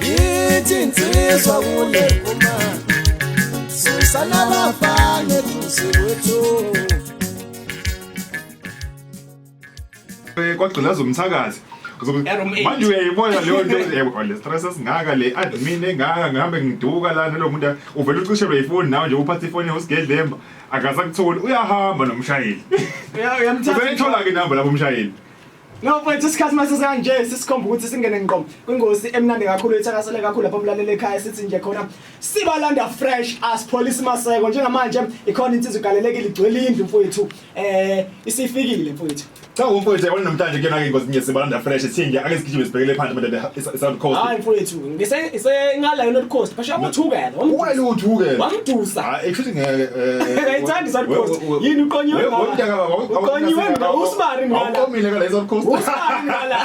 yithi insizwa kule uma susana bafane duze kwethu eh, kwagqilaza umthakazi manje uyayibona leyo nto eh, le stress esingaka le admin engaka ngihambe ngiduka lana lo muntu uvele ucishelwe ifoni nawe nje uphatha ifoni yosigelemba akasakutholi uyahamba nomshayeli uyayithola-ke inamba lapho umshayeli No mfethu isikhathi mase sekanje sisikhomba ukuthi singene ngqo kwingosi emnandi kakhulu ethakasele kakhulu lapho mlalele ekhaya sithi nje khona sibalanda fresh as police maseko njengamanje ikhona insizwa igalelekile igcwele indlu mfethu eh isifikile mfethu Cha umfowethu yabona namhlanje kuyona ke ingozi nje sibalanda fresh sithinje ake sigijime sibhekele phansi manje e-, e-, e-, South Coast. Hayi mfowethu ngise ngise ngala yona coast phasha wamuthukela wena uthukela wamdusa ah, actually ngeke eh, ngayithanda isal coast yini uqonyiwe uqonyiwe mina usibari ngala uqomile ngala isal coast usibari ngala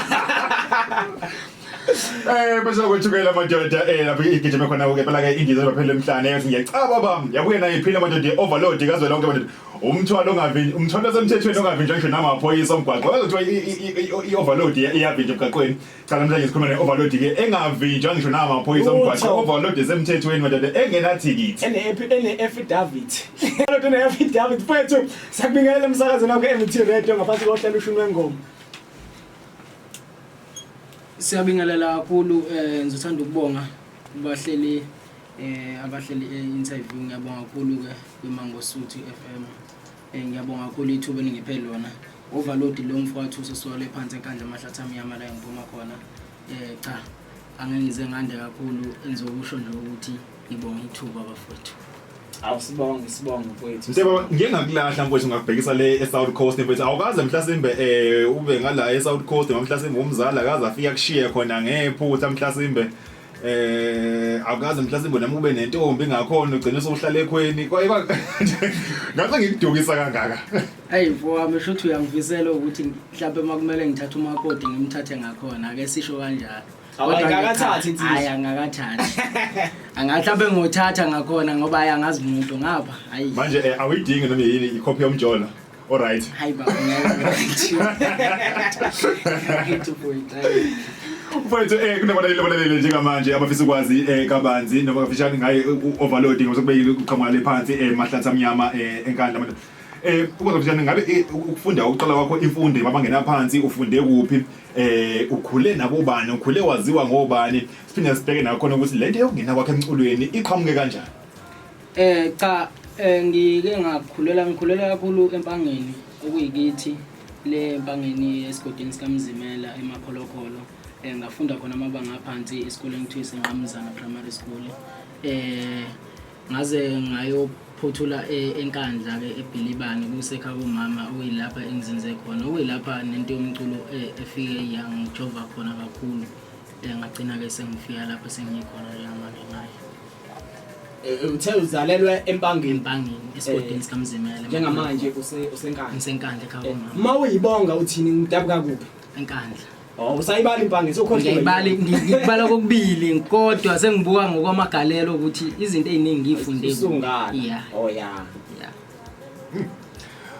Eh bese kwethukela amadoda eh lapho igijima khona ke phela ke indiza baphela emhlane yathi ngiyacaba bam yabuye naye iphila amadoda overload kazwe lonke amadoda umthwalo ongavinjwa umthwalo osemthethweni ongavinjwa ngisho namaphoyisa omgwaqo kuthiwa i-overload iyavinjwa emgaqweni cha namhlanje sikhuluma ne-overload ke engavinjwa ngisho namaphoyisa omgwaqo Utho. overload esemthethweni madoda engenathikithi ene-affidavit lodwa ene-affidavit mfethu sakubingelela emsakazweni wakho e-mt radio ngaphansi kohlelo ushuni wengoma Siyabingelela kakhulu eh ngizothanda ukubonga kubahleli eh abahleli e-interview ngiyabonga kakhulu ke kwiMangosuthu FM Eh, ngiyabonga kakhulu ithuba eningiphe lona overload lo mfo wathusa sole phansi enkandla amahlathi amnyama la engiphuma khona um cha angengize ngande kakhulu engizokusho nje ukuthi ngibonga ithuba bafowethu awusibonge sibonge mfowethu Mteba ngike ngakulahla mfowethu ngakubhekisa le eSouth Coast mfowethu awukaze mhlasimbe eh ube ngala eSouth Coast mhlasimbe umzala akaze afika kushiye khona ngephutha mhlasimbe eh awukaze mhlasimbo nami ube nentombi ngakhona ugcine sokuhlala ekhweni kwayiba ngathi ngikudukisa kangaka ayi mfo wami sho ukuthi uyangivisela ukuthi mhlawumbe uma kumele ngithathe umakoti ngimthathe ngakhona ake sisho kanjalo awayikakathathi insizwa hayi angakathathi angahlawumbe ngothatha ngakhona ngoba ayi angazi muntu ngapha ayi manje eh, awuyidingi noma yini ikhophi yomjola Alright. Hayi baba ngeke. Ngeke point. hayi. Mfowethu eh kunabalaleli abalalele njengamanje abafisa ukwazi eh kabanzi noma kafishane ngaye u-overloading osekubekile uqhamuka le phansi eh mahlatha amnyama eh enkandla abantu. Eh ukwazi kafishane ngabe eh, ukufunda ukuqala kwakho imfundo emabangena phansi ufunde kuphi eh ukhule nabobani ukhule waziwa ngobani siphinde sibheke nakhona ukuthi lento yokungena kwakhe emculweni iqhamuke kanjani. Eh cha eh, ngike ngakhulela ngikhulela kakhulu empangeni okuyikithi le empangeni esigodini sikamzimela emakholokolo eh ngafunda khona amabanga aphansi esikoleni kuthiwa isenqamuzana primary school eh ngaze ngayophothula e- enkandla ke ebhilibane kusekha kumama okuyilapha engizinze khona okuyilapha nento yomculo eh, efike yangijova khona kakhulu eh ngagcina ke sengifika lapha sengikhona njengamanje naye Eh, uthe uzalelwe empangeni empangeni esigodini eh, sikamzimela njengamanje usenkandla ngisenkandla ekhaya komama eh, uma uyibonga uthini ngidabuka kuphi enkandla Oh usayibala impange sokhohlwa ngiyibala ngibala kokubili kodwa sengibuka ngokwamagalelo ukuthi izinto eziningi ngifunde yeah oh yeah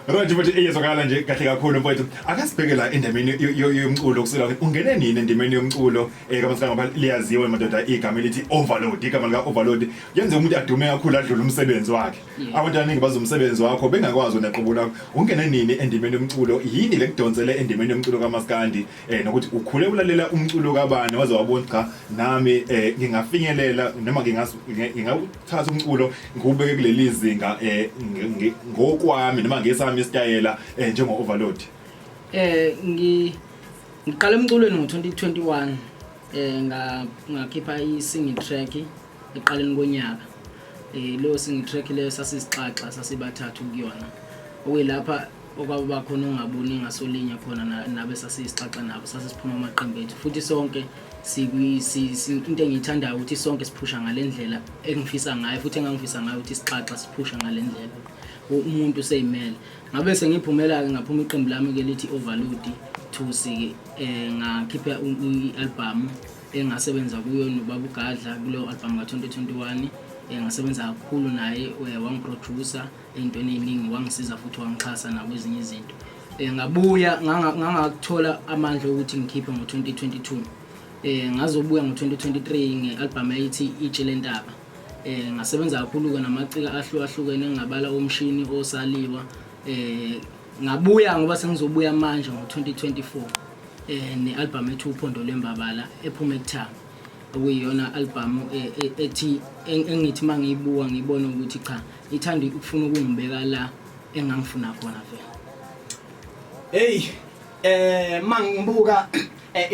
Right mfethu eyezwakala nje kahle kakhulu mfethu akasibheke la endimeni yomculo kusela ungene nini endimeni yomculo eh kamasanga ngoba liyaziwa madoda igama elithi overload igama lika overload yenze umuntu adume kakhulu adlule umsebenzi wakhe mm. abantu abaningi bazomsebenzi wakho bengakwazi naqubula ungene nini endimeni yomculo yini lekudonsele endimeni yomculo kamaskandi eh nokuthi ukhule ulalela umculo kabani waze wabona cha nami eh ngingafinyelela noma ngingawu thatha umculo ngubeke kuleli zinga eh ngokwami noma ngesami isitayela eh, njengo overload eh ngi ngiqala emculweni ngo-2021 eh nga ngakhipha i-singing track eqaleni konyaka eh leyo singing track leyo sasizixaxa sasibathathu kuyona okuyilapha okwakuba khona ongaboni ngaso linye khona nabe sasisixaxa nabo sasisiphuma amaqembu ethu futhi sonke into engiyithandayo ukuthi sonke siphusha ngale ndlela engifisa ngayo futhi engangifisa ngayo ukuthi sixaxa siphusha ngale ndlela umuntu useyimele ngabe sengiphumela-ke ngaphuma iqembu lami-ke lithi overload thusi-ke um eh, ngakhipha i-albhamu engasebenza kuyo nobaba ugadla kuleyo albhamu ka-2021 um eh, ngasebenza kakhulu naye eh, wangiproducer um entweni eyiningi wangisiza futhi wangixhasa nakwezinye izinto um ngabuya ngangakuthola amandla okuthi ngikhiphe ngo-2022 um eh, ngazobuya ngo-2023 nge-albhamu eyithi itshe lentaba um eh, ngasebenza kakhulu-ke namacika ahlukahlukene engingabala omshini osaliwa um ngabuya ngoba sengizobuya manje ngo-2024 um ne-albhamu ethi uphondo lwembabala ephuma ekuthanga okuyiyona albhamu ethi engithi uma ngiyibuka ngiyibone ukuthi cha ithanda ukufuna ukungibeka la engangifuna khona vele hey eh mangibuka Eh,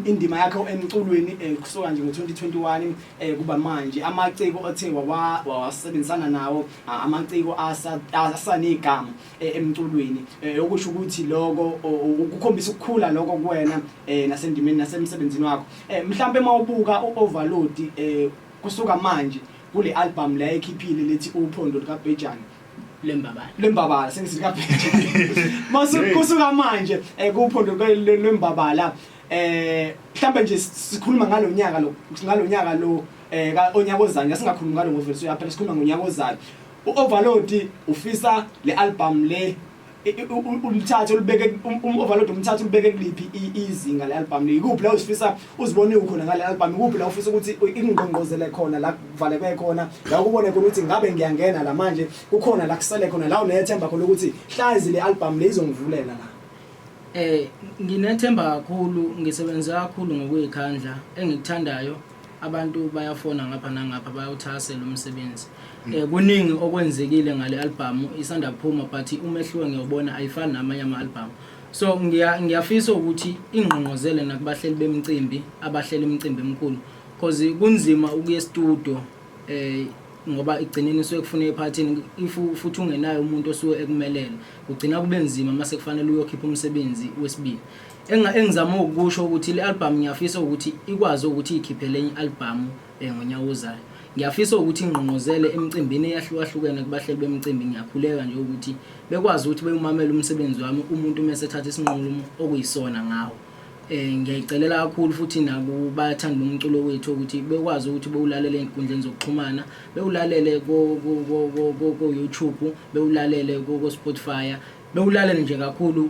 indima yakhe emculweni eh, kusuka nje ngo-2021 eh, kuba manje amaciko othe wawasebenzisana nawo amaciko asanegama emculweni okusho ukuthi loko ukukhombisa ukukhula loko kuwena nasendimeni nasemsebenzini wakho mhlawumbe uma ubuka u-overload kusuka manje Kule album le ayikhiphile lethi uphondo likabhejane lembabala lembabala sengisithi kabhejane mase kusuka manje eh, kuphondo lwe- lwe- lwembabala eh mhlawumbe nje sikhuluma ngalonyaka lo ngalonyaka lo eh ka- onyaka ozayo ngeke singakhulumi ngalo ngoveliswe yaphela sikhuluma ngonyaka ozayo u-overload ufisa le album le ulithathe ulibeke um, um, overload umthathe ulibeke kuliphi izinga le album ikuphi la usifisa uzibone ukhona ngale album ikuphi la ufisa ukuthi ingqongqozele khona la kuvaleke khona la ukubone khona ukuthi ngabe ngiyangena la manje kukhona la kusele khona la unethemba khona ukuthi hlazi le album le izongivulela la eh nginethemba kakhulu ngisebenza kakhulu ngokuyikhandla engikuthandayo abantu bayafona ngapha nangapha bayawuthakasela umsebenzi mm. eh kuningi okwenzekile ngale album isanda kuphuma but umehluko ngiyobona ayifani namanye ama album so ngiya ngiyafisa ukuthi ingqongqozele nakubahleli bemcimbi abahlela imicimbi emkhulu because kunzima ukuye studio eh ngoba igcineni suke kufuna ephathini if futhi ungenayo umuntu osuke ekumelele ugcina kube nzima mase kufanele uyokhipha umsebenzi wesibili Enga engizama ukusho ukuthi le album ngiyafisa ukuthi ikwazi ukuthi ikhiphele enye album eh, ngonyaka ozayo. Ngiyafisa ukuthi ingqongqozele emicimbini eyahlukahlukene kubahleli bemicimbi ngiyakhuleka nje ukuthi bekwazi ukuthi bewumamele umsebenzi wami umuntu uma esethatha isinqumo okuyisona ngawo. Eh ngiyayicelela kakhulu futhi nakubathandi bomculo wethu ukuthi bekwazi ukuthi bewulalele ezinkundleni zokuxhumana, bewulalele ko ko ko ko YouTube, bewulalele ko Spotify bewulalela nje kakhulu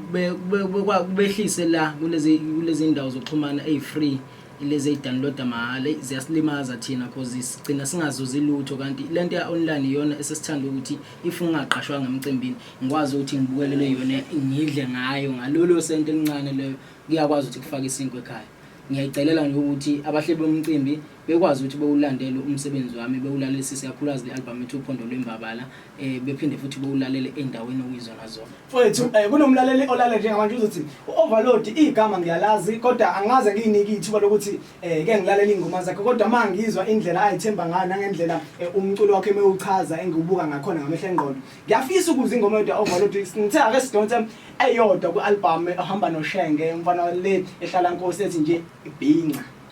kubehlise la kulezi kulezi ndawo zokuxhumana eyi-free lezi eyi-downloada mahhala ziyasilimaza thina cause sigcina singazuzi lutho kanti le nto ya-online iyona esesithanda ukuthi if ngingaqashwanga emcimbini ngikwazi ukuthi ngibukelele yona ngidle ngayo ngalolo sento elincane leyo kuyakwazi ukuthi kufake isinkwa ekhaya ngiyaycelela nje ukuthi abahleli bomcimbi Bekwazi ukuthi bewulandele umsebenzi wami, bewulalelisise kakhulukazi le albhamu ethi Uphondo Lwembabala, um bephinde futhi bewulalele ey'ndaweni okuyizona zona. Mfowethu, um kunomlaleli olale njengamanje uzothi u-overload igama ngiyalazi kodwa angaze ngiyinike ithuba lokuthi um ke ngilalele iy'ngoma zakhe kodwa uma ngizwa indlela ayithemba ngayo nangendlela um umculo wakhe mewuchaza engiwubuka ngakhona ngamehla engqondo ngiyafisa ukuza ingoma yodwa overload ngithe ake sidonse eyodwa kwi-albhamu ehamba noshenge umfana le ehlala nkosi ethi nje ibhinca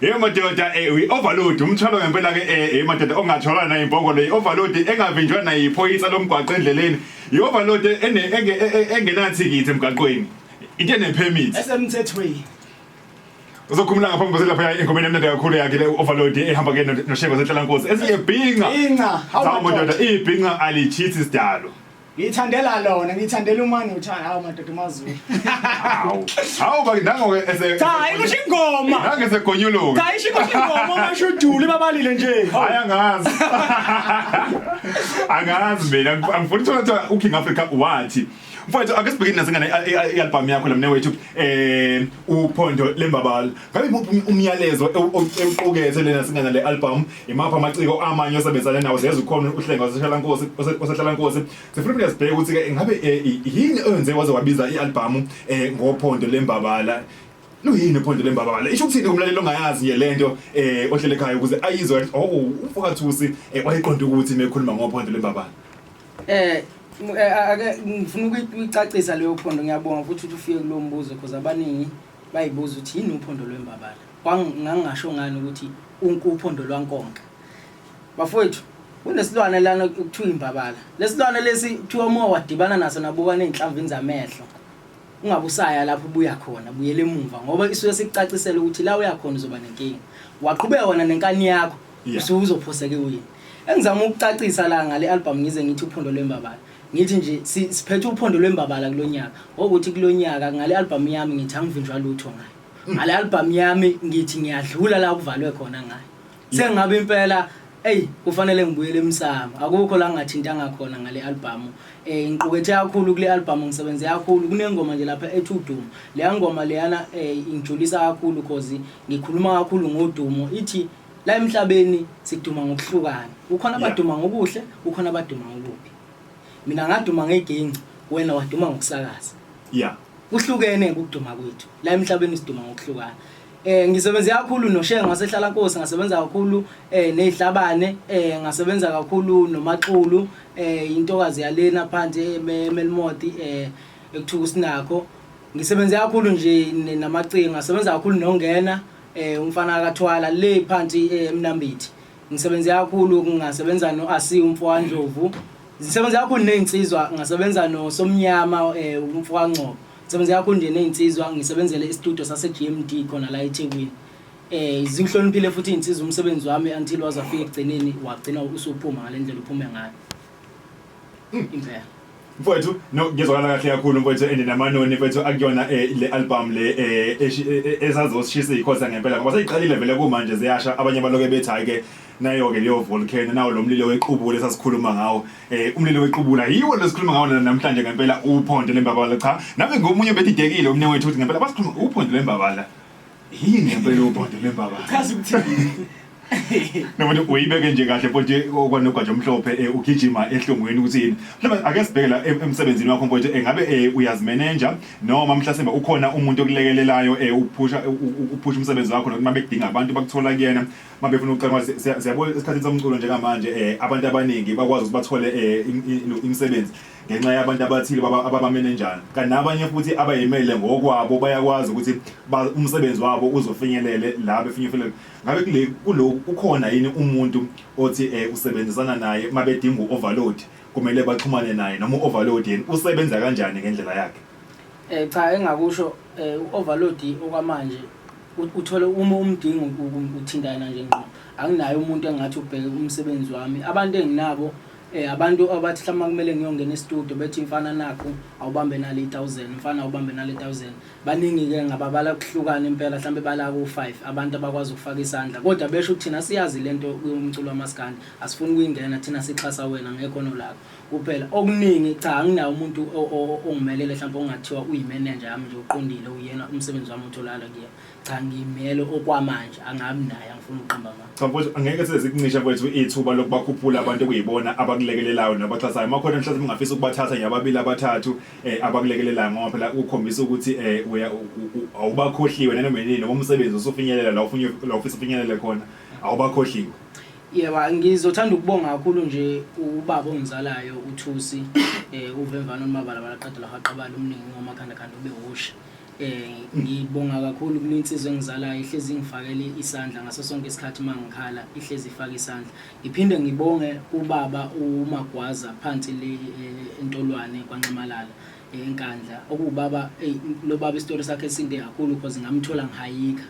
Hey madoda eh we overload umthwalo ngempela ke eh hey madoda ongathola na imbongo le overload engavinjwa na iphoyisa lomgwaqo endleleni i overload ene enge- e- e- engenathi kithi emgaqweni into ene permit esemthethweni uzokhumula ngaphambi kwase lapha engomeni emnandi kakhulu yakhe le overload ehamba ke no- noshengo zenhlala nkosi esiyebhinga inca hawu zawu madoda madoda ibhinga alichithi sidalo Ngithandela lona, ngithandela umani uthanda hawu madoda uMaZulu. Hawu. Hawu bakithi nango ke ese. Cha, ikusho ingoma. Nange esegonyuluka. Cha, isho ikusho ingoma ungasho udule babalile nje. Hayi angazi. Angazi mina angifuni ukuthola kuthiwa uKing Africa wathi. Mfowethu ake sibhekeni nasengane i-album yakho lamne wethu eh uphondo lembabala. Ngabe imuphi um- umyalezo ewu- owu- ewuqukethe lena singana le album imaphi amaciko amanye osebenzisane nawo siyeza ukhona uhlenga osehlalankosi ose- osehlalankosi sifuna ukuthi sibheke ukuthi ke ngabe eh, i- yini oyenze waze wabiza i-albhamu um ngophondo lembabala luyini uphondo lembabala isho ukuthini kumlaleli ongayazi nje le nto um ohlele ekhaya ukuze ayizwe athi, oh umfokathusi um wayeqonda ukuthi mekhuluma ngophondo lembabala Eh m- eh, ake ngifuna ukuyi- ukuyicacisa leyo phondo ngiyabonga futhi ukuthi ufike kulo mbuzo because abaningi Bayibuza ukuthi yini uphondo lwembabala. Ngangingasho ngani ukuthi uphondo lwankonka. Bafowethu, kunesilwane lana kuthiwa imbabala. Lesilwane lesi kuthiwa uma wadibana naso nabuka nezinhlamvini zamehlo. Ungabe usaya lapho ubuya khona, buyela emuva ngoba isuke sikucacisela ukuthi la uya khona uzoba nenkinga. Waqhubeka wona nenkani yakho, usuzophoseka ewini. Engizama ukucacisa la ngale album ngize ngithi uphondo lwembabala. Ngithi nje si- siphethe uphondo lwembabala kulo nyaka. Okuthi kulo nyaka ngale albhamu yami ngithi angivinjwa lutho ngayo. Ngale albhamu yami ngithi ngiyadlula la kuvalwe khona ngayo. Sengabe impela eyi kufanele ngibuyele emsamo. Akukho la ngingathintanga khona ngale albhamu. Eh ngiqukethe kakhulu kule albhamu ngisebenze kakhulu. Kunengoma nje lapha ethi udumo. Leya ngoma leyana eh ingijulisa kakhulu cause ngikhuluma kakhulu ngodumo. Ithi La emhlabeni siduma ngokuhlukana. Kukhona Yeah. abaduma ngokuhle, kukhona abaduma ngokubi. Mina ngaduma ngegingci, wena waduma ngokusakaza. ya Kuhlukene ukuduma kwethu. La emhlabeni siduma ngokuhlukana. Eh ngisebenze kakhulu noShenge wasehlala Nkosi, ngasebenza kakhulu eh nezihlabane, eh ngasebenza kakhulu noMaxulu, eh intokazi yalena phansi eme- eMelmoti eh ekuthuka usinakho. Ngisebenze kakhulu nje ne- namacingo, ngasebenza kakhulu nongena. eh umfana akathwala le phansi eh, emnambithi ngisebenze kakhulu ngingasebenza no asi umfowandlovu ngisebenze kakhulu nezinsizwa ngasebenza no somnyama eh, umfowangcobo ngisebenze kakhulu nje nezinsizwa ngisebenzele istudio sase GMD khona la eThekwini eh zingihloniphile futhi izinsizwa umsebenzi wami until wazafika ekugcineni wagcina usuphuma ngalendlela uphume ngayo impela mfowethu no ngizwakala kahle kakhulu mfowethu and namanoni mfowethu akuyona eh, le album le eh, eshi- eh, eh, esazosishisa ikhosa ngempela ngoba seyiqalile vele kumanje ziyasha abanye baloke bethi hayi ke nayo-ke leyo volcano nawo lo mlilo wequbula esasikhuluma ngawo eh umlilo wequbula yiwo lesikhuluma ngawo na- namhlanje ngempela uphondo lembabala cha nami ngomunye bedidekile umnye wethu ukuthi ngempela basikhuluma uphondo lembabala Yini ngempela ubhodo lembabala? Chaza ukuthini? Noma nje uyibeke nje kahle mfowethu okwanogwaje omhlophe eh, ugijima ehlungwini ukuthi yini. Mhlawumbe ake sibheke la em- emsebenzini wakho mfowethu engabe eh, uyazimeneja noma mhlasimbe ukhona umuntu okulekelelayo eh, ukuphusha u- u- ukuphusha umsebenzi wakho noma bekudinga abantu bakuthola kuyena mabefuna ukucela imali. Siya- siyabona esikhathini somculo njengamanje eh, abantu abaningi bakwazi ukuthi bathole eh, im- im- imisebenzi. ngenxa yabantu abathile ababamenenjana kanti nabanye futhi abayimele ngokwabo bayakwazi ukuthi umsebenzi wabo uzofinyelele la befinyefelele ngabe kule kuloku kukhona yini umuntu othi um usebenzisana naye uma bedinga u-overload kumele baxhumane naye noma u-overload yena usebenza kanjani ngendlela yakhe um cha engakusho um u-overload okwamanje uthole uma umdinga uthintana nje ngqo anginayo umuntu engathi ubheke umsebenzi wami abantu enginabo Eh abantu abathi mhlawumbe kumele ngiyongena e-studio bethi mfana nakho awubambe nale 1000 mfana awubambe nale 1000 baningi ke ngababala kuhlukana impela mhlawumbe bala ku-5 abantu abakwazi ukufaka isandla kodwa besho ukuthi thina siyazi lento yomculo wamaskandi asifuni kuyingena thina sixhasa wena ngekhono lakho kuphela okuningi cha anginawo umuntu ongimelele mhlawumbe ongathiwa uyimenenja yami nje uqondile uyena umsebenzi wami utholakala kuyena cha ngimele okwamanje angabi naye angifuni ukuqamba ma cha mfowethu angeke size sikumishe mfowethu ithuba lokubakhuphula abantu okuyibona abakulekelelayo nabaxhasayo uma khona mhlawumbe ungafisa ukubathatha nje ababili abathathu eh abakulekelelayo ngoba phela ukhombisa ukuthi eh uya- u- u- u- awubakhohliwe nanoma yini noma umsebenzi usufinyelela la ufuna la ufisa ufinyelele khona awubakhohliwe yebo ngizothanda ukubonga kakhulu nje ubaba ongizalayo uthusi um uvemvana umabalabala qeda lahaqabala umningi ngomakhandakhanda ube wusha Eh ngibonga kakhulu kule insizwa engizalayo ihlezi ngifakele isandla ngaso sonke isikhathi mangikhala ihlezi ifaka isandla. Ngiphinde ngibonge ubaba uMagwaza phansi le eh, entolwane kwanxamalala eh, enkandla. Okuwubaba ey lo baba isitori sakhe sinde kakhulu because ngamthola ngihayika.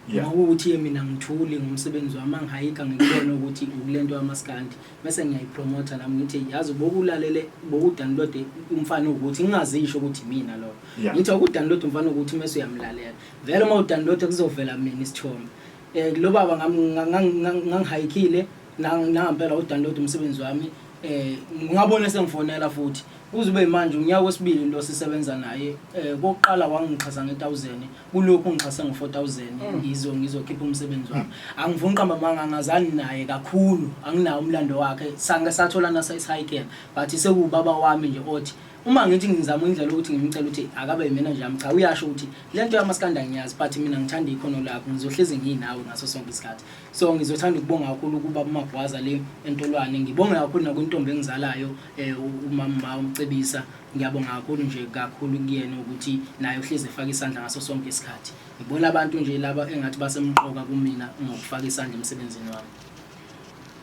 Yeah. Uma ukuthi yena mina ngithuli ngomsebenzi wami angihayika ngikubona ukuthi ukulento yamaskandi mese ngiyayipromotha nami ngithi yazi bokulalele bokudownload umfana ukuthi ngingazisho ukuthi mina lo ngithi ukudownload umfana ukuthi mase uyamlalela vele uma udownload kuzovela mina isithombe eh lo baba ngangihayikile nangempela udownload umsebenzi wami eh ngabona sengifonela futhi Kuze kube yimanje unyaka wesibili lo sisebenza naye eh kokuqala wangixhasa nge1000 kulokhu ngixhase ngo4000 mm. ngizo ngizokhipha umsebenzi wami mm. angivuni qamba manga ngazani naye kakhulu anginawo umlando wakhe sange sathola nasa isihike but sekubaba wami nje othi uma ngithi ngizama indlela ukuthi ngimcela ukuthi akabe yimena nje yami cha uyasho ukuthi le nto yamaskanda ngiyazi but mina ngithanda ikhono lakho ngizohlezi ngiyinawe ngaso sonke isikhathi so ngizothanda ukubonga kakhulu ukuba umagwaza le entolwane ngibonge kakhulu nakwintombi engizalayo eh umama umcebisa ngiyabonga kakhulu nje kakhulu kuyena ukuthi naye uhleze efaka isandla ngaso sonke isikhathi ngibona abantu nje laba engathi basemqoka kumina ngokufaka isandla emsebenzini wami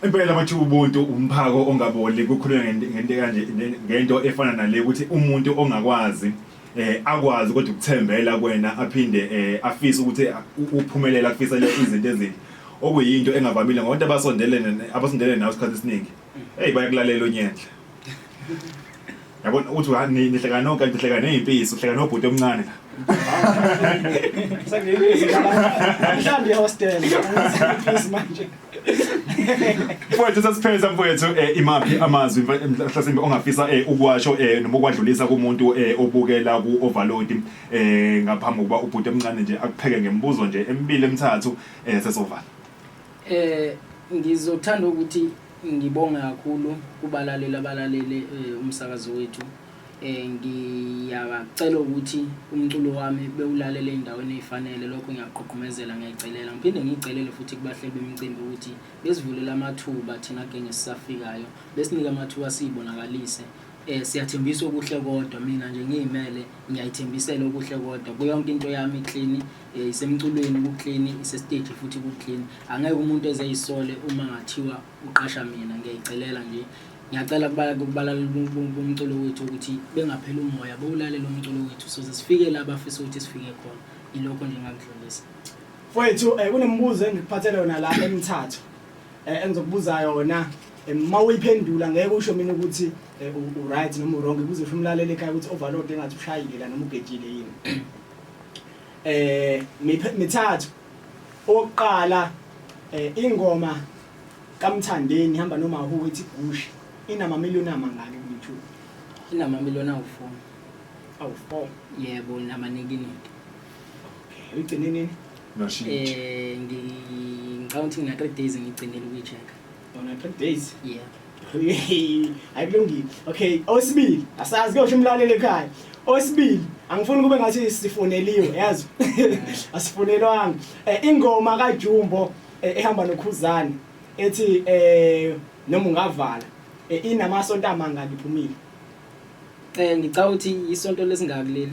impela bathi ubuntu umphako ongaboli kukhulunywa ngento ngento kanje ngento efana nale ukuthi umuntu ongakwazi eh akwazi kodwa ukuthembela kwena aphinde eh afise ukuthi uphumelela afisele izinto ezinhle okuyinto engavamile ngoba abantu abasondelene abasondelene nawe isikhathi esiningi Hey bayakulalela unyendle. Yabona uthi ha ni nihleka no kanti nihleka nezimpisi, uhleka nobhuti omncane la. Mhlawumbe ihostel. Please manje. Mfowethu sasipheza mfowethu eh, imaphi amazwi mfa- em- mhlasimbe ongafisa eh, ukuwasho eh, noma ukwadlulisa kumuntu eh, obukela ku-overload eh, ngaphambi kokuba ubhuti omncane nje akupheke ngemibuzo nje emibili emithathu eh, sesovala. Eh ngizothanda ukuthi ngibonge kakhulu kubalaleli abalalele eh, umsakazo wethu eh ngiyacela ukuthi umculo wami bewulalele endaweni ezifanele lokho ngiyaqhuqhumezela ngiyacelela ngiphinde ngicelele futhi kubahleli bemicimbi ukuthi besivulela amathuba thina genge sisafikayo besinike amathuba siyibonakalise eh siyathembisa okuhle kodwa mina nje ngiyimele ngiyayithembisela okuhle kodwa kuyonke into yami clean Eh, isemculweni kuclean isestage futhi kuclean angeke umuntu eze yisole uma ngathiwa uqasha mina ngiyayicelela nje ngiyacela kubalaleli bomculo wethu ukuthi bengapheli umoya bowulalela umculo wethu soze sifike la bafisa ukuthi sifike khona ilokho nje ngakudlulisa mfowethu um kunemibuzo engikuphathele yona la emithathu um eh, engizokubuza yona uma uyiphendula ngeke usho mina ukuthi u-right noma u-wrong kuze usho umlaleli ekhaya ukuthi overload engathi ushayile la noma ugejile yini eh mithathu oqala eh ingoma kaMthandeni ihamba noma hu ethi Bush inama million amangaki ku YouTube inama million awu4 awu4 yebo nama nikiniki okay uyigcine nini no shit eh ngicabanga ukuthi ngina 3 days ngigcinele ukuyichecka Bona trip days. Yeah. Akulungile. Okay, osibili. Asazi kuyosho umlaleli ekhaya. Osibili, angifuni kube ngathi sifoneliwe, yazi. Asifonelwanga. Eh ingoma kaJumbo eh, ehamba noKhuzani ethi eh noma ungavala eh, inamasonto amanga ngiphumile. Eh ngicabanga ukuthi isonto lesingaki leli.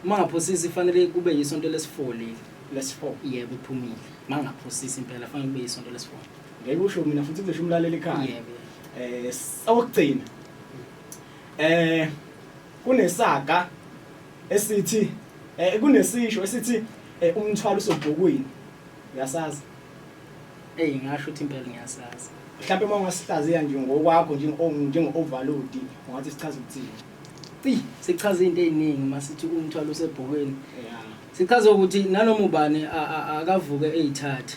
Uma ngaphosisi fanele kube isonto lesifoli. Let's fall. Yebo iphumile. Mangaphosisi impela fanele kube isonto lesifoli. ngeke usho mina futhi kuzosho umlaleli ekhaya eh sawugcina eh kunesaga esithi eh kunesisho esithi eh, umthwalo usobhukwini uyasazi hey ngasho ukuthi impela ngiyasazi mhlawumbe uma ungasihlaziya nje ngokwakho njengo-overload ungathi sichaza ukuthini eyi sichaza into ey'ningi uma sithi umthwalo usebhokweni sichaza ukuthi nanoma ubani akavuke eyithathe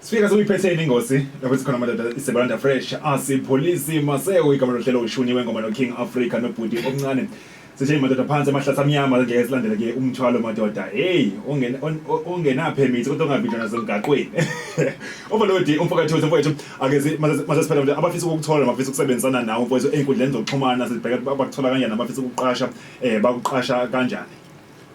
Sifika sokuyiphethe ingosi lapho sikhona amadoda isebalanda fresh asipholisi maseo igama lohlelo ushuni wengoma noking africa nobhuti omncane sishe madoda phansi amahlasa amnyama ngeke silandele ke umthwalo madoda hey ungenaphemithi kodwa ungavinjwa nasemgaqweni overload umfowethu umfowethu akezi masesiphela ukuthi abafisa ukukuthola abafisa ukusebenzisana nawe umfowethu enkundleni zokuxhumana sibheke bakuthola kanjani abafisa ukuqasha eh bakuqasha kanjani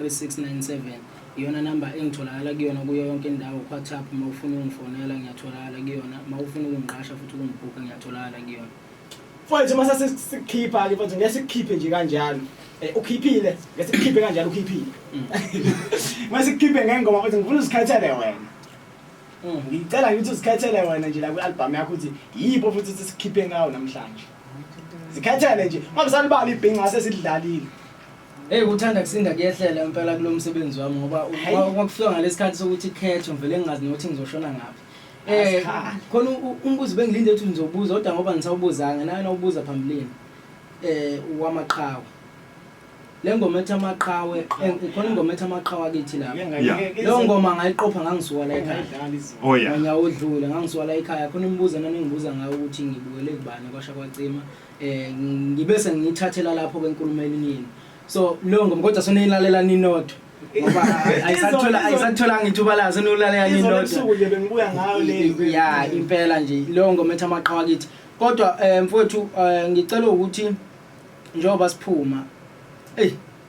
3697 iyona number engitholakala kuyona kuyo yonke indawo kuWhatsApp uma ufuna ungifonela ngiyatholakala kuyona uma ufuna ukungiqasha futhi ukungibhukha ngiyatholakala kuyona mfowethu uma sesikhipha ke mfowethu ngeke sikhiphe nje kanjalo Eh, ukhiphile ngeke sikhiphe kanjalo ukhiphile mm. uma sikhiphe ngengoma futhi ngifuna uzikhethele wena mm. ngicela ngithi uzikhethele wena nje la kwi-albhamu yakho ukuthi yipho futhi ukuthi sikhiphe ngawo namhlanje zikhethele nje uma bisalibala ibhinca sesidlalile Hey uthanda kusinda kuyehlela impela kulo msebenzi wami ngoba uma kufika ngalesikhathi sokuthi khetho ngivele ngingazi nokuthi ngizoshona ngaphi. Eh khona umbuzo bengilinde ukuthi ngizobuza kodwa ngoba ngisawubuzanga naye nawubuza phambilini. Eh wamaqhawe. Lengoma ethi amaqhawe eh, khona ingoma ethi amaqhawe akithi lapha. Leyo ngoma ngayiqopha ngangisuka la ekhaya. Oh yeah. Ngiyawudlula ngangisuka la ekhaya khona imibuzo nami ngibuza ngayo ukuthi ngibukele kubani kwasha kwacima. um ngibe sengiyithathela lapho kwenkulumo eninini so leyo ngoma kodwa seniyilalela ninodwa ngoba ayisathola- ayisatholanga ithuba layo seniwulalela Izolo ninodwa ebusuku nje bengibuya ngayo le ya impela nje leyo ngoma ethi amaqhawa kithi kodwa um mfowethu um ngicela ukuthi njengoba siphuma eyi